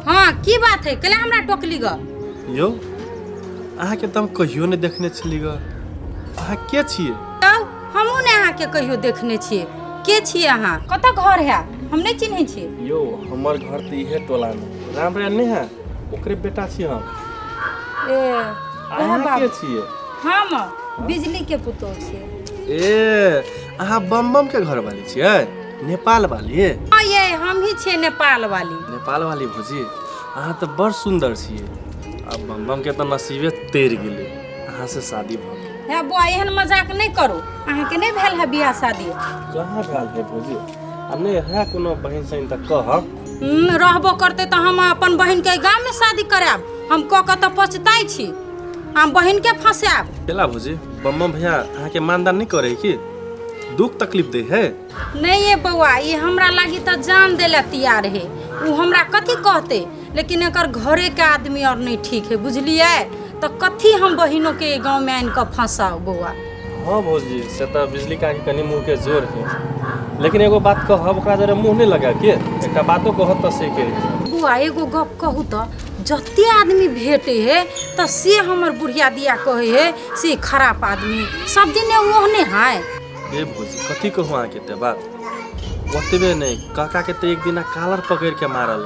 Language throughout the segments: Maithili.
हाँ की बात है कल हमरा टोकली ग यौ अहाँके तऽ हम कहियो नहि देखने छली ग अहाँ के छियै तब हमहूँ ने अहाँके कहियो देखने छियै के छियै अहाँ कतऽ घर है हम नहि चिन्है छियै यौ हमर घर तऽ इहे टोलामे राम राय नहि है ओकरे बेटा छी हम ए ओहे अहाँ के बाबू छियै हम बिजली के पुतोह छियै ए अहाँ बम बम के घर वाली छियै नेपाल वाली हाँ ये हम ही छियै नेपाल वाली नेपाल वाली भौजी अहाँ तऽ बड़ सुन्दर छियै आ बम बम के तऽ नसीबे तैर गेलै अहाँ से शादी भऽ गेल हे बौआ एहन मजाक नहि करू अहाँके नहि भेल है बियाह शादी कहाँ भेल है भौजी आ नहि है कोनो बहन सहिन तऽ कह हम्म, रहबो करते तऽ हम अपन बहिन के गाम में शादी करायब हम कऽ के तऽ पछताई छी हम बहिन के फंसायब केला भौजी बम्मा भैया अहाँके मानदान नहि करे है की दुख तकलीफ दे है नहीं ये बौआ ये हमरा लागी तऽ जान देला तैयार है उ हमरा कथी कहते लेकिन एकर घरे के आदमी और नहीं ठीक है बुझलिए तो कथी हम बहिनों के गांव में आन के फंसाओ बउआ हाँ भौजी से तो बिजली का के कनी मुँह के जोर है लेकिन एगो बात कहब ओकरा जरे मुँह नहीं लगा के एकटा बातो कहब तो से के बउआ एगो गप कहू तो जते आदमी भेटे है तो से हमर बुढ़िया दिया कहे है से खराब आदमी है। सब दिन ओहने है ए भौजी कथी कहूँ अहाँके ते बात ओतबे नहि काका के तऽ एक दिना कालर पकड़ के मारल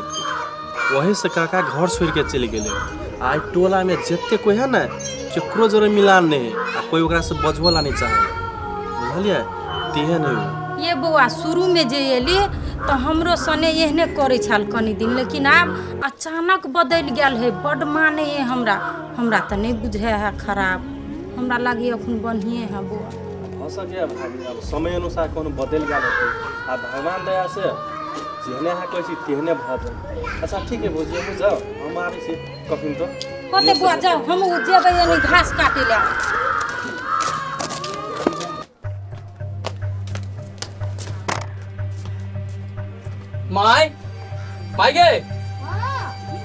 वही से काका घर छोड़ के चलि गेले आइ टोला में जते कोई है ने केकरो जरे मिलान नहीं है आ कोई ओकरा से बजबो ला नहीं चाहे बुझलिए तिहे नहीं हो ये बौआ शुरू में जे एली तो हमरो सने एहने करे छल कनी दिन लेकिन आब अचानक बदल गेल है बड माने है हमरा हमरा तो नहीं बुझे है खराब हमरा लगी अखन बढ़िए है बौआ हो सके भाभी अब समय अनुसार कोनो बदल गया रहते आ भगवान दया से जेहने अहाँ कहै छी तेहने भऽ जाय अच्छा ठीक है भौजी हमहूँ जाउ हम आबै छी कखन तो होते बुआ जाओ हम उ जेबै यानी घास काटे ले माय माय गे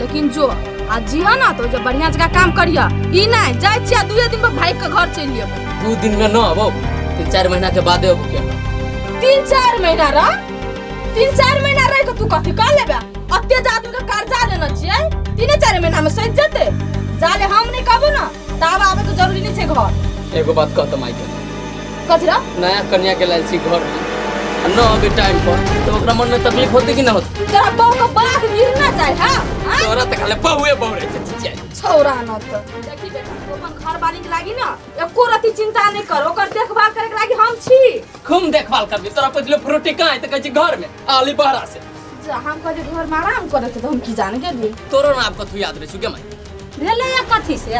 लेकिन जो आ जिया ना तो जब बढ़िया जगह काम करिया ई नहीं जाय छिया दुए दिन पर भाई के घर चल लियो दू दिन में ना अबो तीन चार महीना के बादे अब क्या तीन चार महीना रह तीन चार महीना रह के तू कथी कर लेबे अत्ते जादू के कर्जा लेना छिए तीन चार महीना में सज जते जाले हम नहीं कहबो ना ताब आवे के जरूरी नहीं छे घर एगो बात कहत माई के कजरा नया कन्या के लायल छी घर में आ न अबे टाइम पर तो ओकरा मन में तकलीफ होते कि ना होते तोरा बहु को बाघ गिरना चाहे हां आ? तोरा त खाले बहुए बहु रहे छै चिचिया छौरा न त देखी बेटा तू अपन घर वाली के लागी ना एको रति चिंता नहीं कर ओकर देखभाल करे के लागी हम छी खूब देखभाल करबी तोरा पहिले फ्रूटी कहाँ है तो कहै छी घर में आली बहरा से जा हम कहली घर में आराम करे थे तो हम की जान गेली तोरो नाम कथू याद रहे छुके माई भेले या कथी से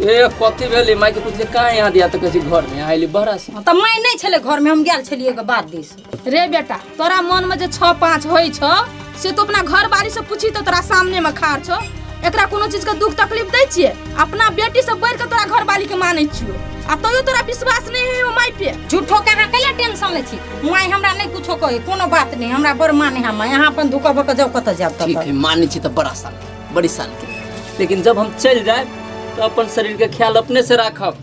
ए कथी भेली माई के पूछले कहाँ यहाँ दिया तो कहै घर में आइली बहरा से त मैं नहीं छले घर में हम गेल छलिए के बाद दिस रे बेटा तोरा मन में जे छः पाँच होइ छौ से तो अपना घर बारी से पूछी तो तोरा सामने में खार छो एकरा कोनो चीज के दुख तकलीफ दै छिए अपना बेटी से बढ़ के तोरा घर वाली के मानै छियो आ तैयो तोरा विश्वास नहीं है माय पे झूठो के अहाँ कैला टेंशन लै छी माय हमरा नहीं कुछो कहे कोनो बात नहीं हमरा बड़ माने है माय अहाँ अपन धुका भक जाओ कत जाब ठीक तब है माने छी तो बड़ा साल के बड़ी साल के लेकिन जब हम चल जाए तो अपन शरीर के ख्याल अपने से राखब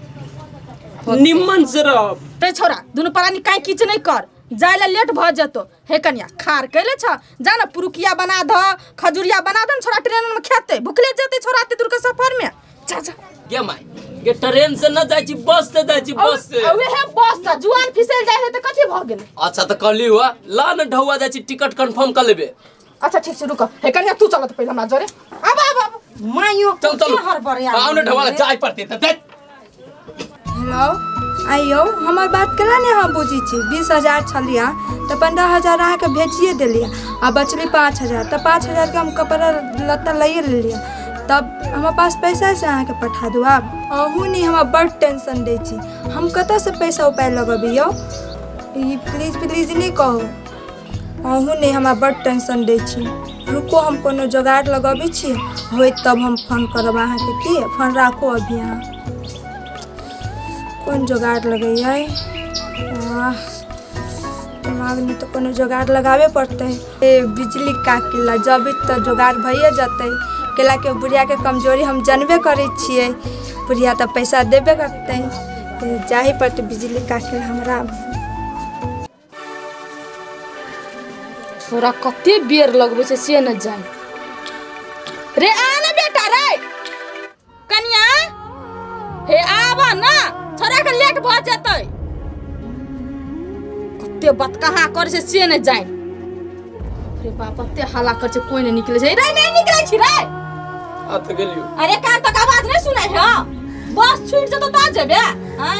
निम्मन से रहब ते छोरा दुनू परानी काहे किछ नहीं कर जाय ला लेट भ जतो हे कनिया खार कैले छ जा न पुरुकिया बना ध खजुरिया बना द छोरा ट्रेन में खेते भुखले जेते छोरा एते दूर के सफर में जा जा गे माय गे ट्रेन से न जाइ छी बस से जाइ छी बस से अबे हे बस सा जुआन फिसल जाय है त कथि भ गेल अच्छा त कहली हुआ ला न ढौआ जाइ छी टिकट कंफर्म कर लेबे अच्छा ठीक छै रुक हे कन्या तू चलत पहिले हमरा जरे अब अब अब माइयो चल चल हर बर यार आउने ढवाला जाय पड़ते त देख हेलो आइयो हमर बात केला ने हम बुझी छी बीस हजार छलिया तऽ पंद्रह हजार अहाँके भेजिए देलियै आ बचली पाँच हजार तऽ पाँच हजारके हम कपड़ा लत्ता लैए लेलियै तब हमरा पास पैसा है से अहाँके पठा दू आब अहू नहि हमरा बड टेंशन दै छी हम कतऽसँ पैसा उपाय लगबियौ ई प्लीज प्लीज नहि कहू अहूँ ने हमरा बड टेंशन दै छी रुको हम कोनो जोगाड़ लगबै छी होइत तब हम फोन करब अहाँके की फोन राखू अभी अहाँ कोन जोगाड़ लगैयै आह, दिमागमे तऽ कोनो जोगाड़ लगाबे पड़तै ए बिजली का किल्ला जबै तऽ जोगाड़ भइए जेतै कैला के बुढ़ियाके कमजोरी हम जानबे करै छियै बुढ़िया तऽ पैसा देबे करतै तऽ जाही पड़तै बिजली का किल्ला हमरा छोरा कते बेर लगबै छै से न जान रे आ ना बेटा रे कनिया हे आबा ना छोरा के लेट भ जेतै कते बात कहाँ करै छै से न जान रे बाप कते हल्ला करै छै कोई नहि निकलै छै रे नहि निकलै छी रे आ तऽ गेलियो अरे कान तक आवाज नहीं सुनाई है बस छूट जतो ता जेबे हैं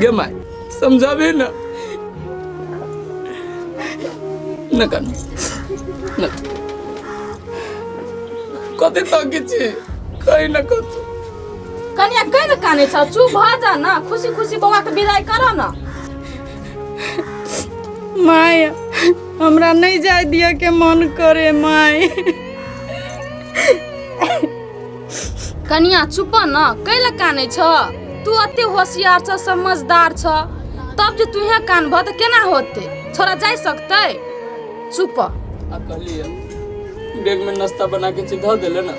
गे माय समझाबे ना ना कान ना कते तक छी कहीं ना कत कनिया कह न काने छ चुप भ जा न खुसी खुसी बौआ के विदाई कर न माय हमरा नहीं जाय दिया के मन करे माय कनिया चुप न कैला कानै छ तू अते होशियार छ समझदार छ तब जे तुहे कानबह तऽ केना होते छोरा जाय सकतै चुप आ कहलिए बैग में नाश्ता बना के चीज धऽ देले ना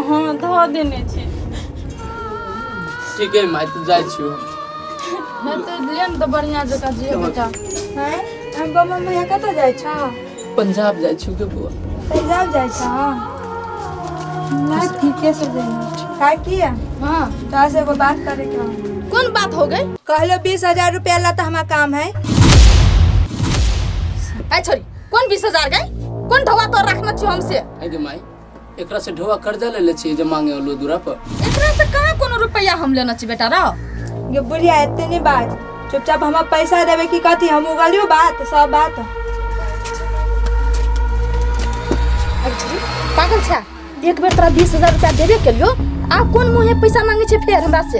हाँ धऽ देने छी ठीक है माय तू जाइ छियो नहि तऽ लेन तऽ बढ़िया जकाँ जे बेटा हैं हम बाबा मैया कतऽ जाइ छ पंजाब जाइ छी के बुआ पंजाब जाइ छ मैं ठीके से जाइए का किया हाँ तोरा से एगो बात करे के हौ। कौन बात हो गई कहलो बीस हजार रुपया ला तो हमार काम है ऐ छोरी कौन बीस हजार गई कौन ढवा तो रखना चाहिए हमसे आगे माई एकरा से ढोआ कर्जा ले ले छी जे मांगे ओलो दूरा पर एकरा से कहाँ कोनो रुपया हम लेना छी बेटा रो ये बुढ़िया एते नहीं बात चुपचाप हमारा पैसा देवे की कहती हम उगलियो बात सब बात पागल छा एक बेर तोरा बीस हजार रुपया देबे केलियो आ कोन मुँहे पैसा मांगे छै फेर हमरा से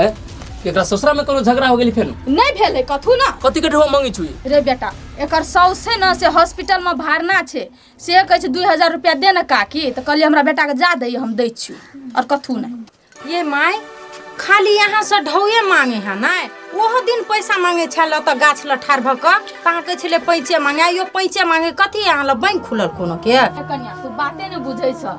ए एकरा ससुरा में कोनो झगड़ा हो गेली फेर नहीं भेल है कथू ना कथी के ढोआ मांगी छुई रे बेटा एकर सौसे न से हॉस्पिटल में भरना छै से कहै छै दुइ हजार रुपया दे न काकी तऽ कहलियै हमरा बेटाके जा दैए हम दै छियौ आओर कथू नहि ये माय खाली यहाँ से ढौए मांगे है ना ओहो दिन पैसा मांगे छल तऽ गाछ लग ठाढ़ भऽ कऽ तऽ अहाँ कहै छलै पैंचे मांगे आइयो पैंचे मांगे कथी अहाँ लग बैंक खुलल कोनो के कन्या तू बाते नहि बुझै छ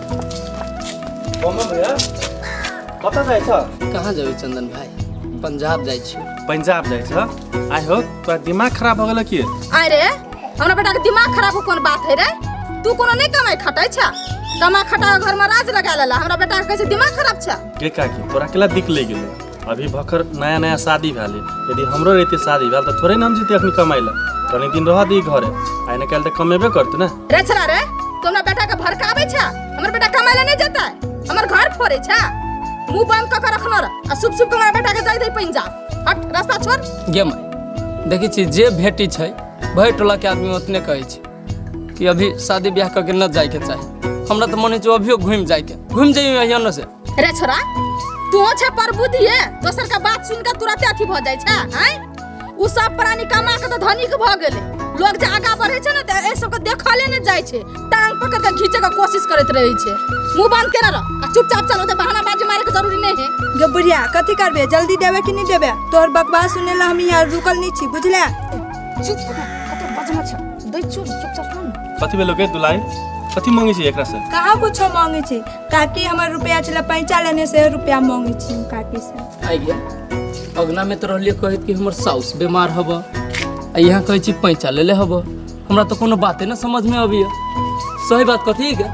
कमल भैया कतऽ जाइ छ कहाँ जेबै चन्दन भाइ पंजाब जाइ छियो पंजाब जाइ छ आइ हो तोरा दिमाग खराब हो गेल कि आइ रे हमरा बेटाके दिमाग खराब हो कोन बात है रे तू कोनो नहि कमाइ खटाइ छ कमा खटा घरमा राज लगा लेला हमरा बेटाके कहै छै दिमाग खराब छ के काकी तोरा केला दिक ले गेलै अभी भखर नया नया शादी भेल यदि हमरो रहते शादी भेल तऽ थोड़े नाम जीते अखनी कमाइ लए कनी दिन रह दी घरे आइ ने काल्हि तऽ कमेबे करतै ने रे छला रे तू हमरा बेटा के भड़कावे छा हमर बेटा कमाए ले नहीं जाता है हमर घर फोड़े छा मुंह बंद क के रखनो रह आ सुप सुप के हमरा बेटा के दे दे पैन जा हट रास्ता छोड़ गे माय देखै छी जे भेटी छै भरि टोला के आदमी ओतने कहै छै कि अभी शादी ब्याह करके न जाए के चाहे हमरा तो मन जो अभियो घूम जाए के घूम जाइए यहाँ न से रे छोरा तू छे पर बुद्धि है दोसर का बात सुन के तुरंत अथी भ जाय छे हैं उ सब प्राणी कमा के तो धनिक भ गेले लोग जे आगा बढ़े छे ना त ए सब के देखले न जाय छे टांग पकड़ के खींचे के कोशिश करत रहे छे मुंह बंद कर रह आ चुपचाप चलो त बहाना बाजी मारे के जरूरी नहीं है जो बुढ़िया कथी करबे जल्दी देवे कि नहीं देवे तोहर बकवास सुने ला हम यहाँ रुकल नहीं छी बुझले चुप कतो बजना छ दै छु चुपचाप सुन कथी भेलो के दुलाई कथी मांगे छी एकरा से कहाँ कुछो मांगे छी काकी हमर रुपया छला पैंचा लेने से रुपया मांगे छी हम काकी से आइ गया अगना में तो रहलिए कहत कि हमर साउस बीमार हब आ यहाँ कहै छी पैंचा लेले हब हमरा तो कोनो बाते ना समझ में अबिया सही बात कथी के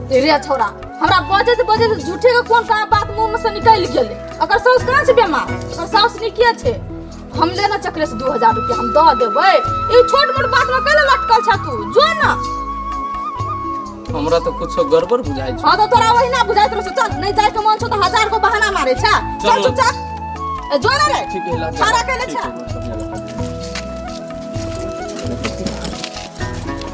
तेरे छोरा हमरा बजे से बजे से झूठे के कोन कहाँ बात मुंह में से निकल गेले अगर साउस कहाँ से बेमार अगर साउस निकिया छे हम लेना चक्र से दू हजार रुपया हम दऽ देबै ई छोट मोट बात में कल लटकल छ तू जो ना हमरा तो कुछ गड़बड़ बुझाई छै हाँ तो तोरा वही ना बुझाइत रहो चल नहीं जाए के मन छो तो हजार को बहाना मारे छ चल चलो। चुपचाप ए, जो ना रे ठीक है लागे। छाड़ा के ले ठीक छा है, बढ़िया लगा।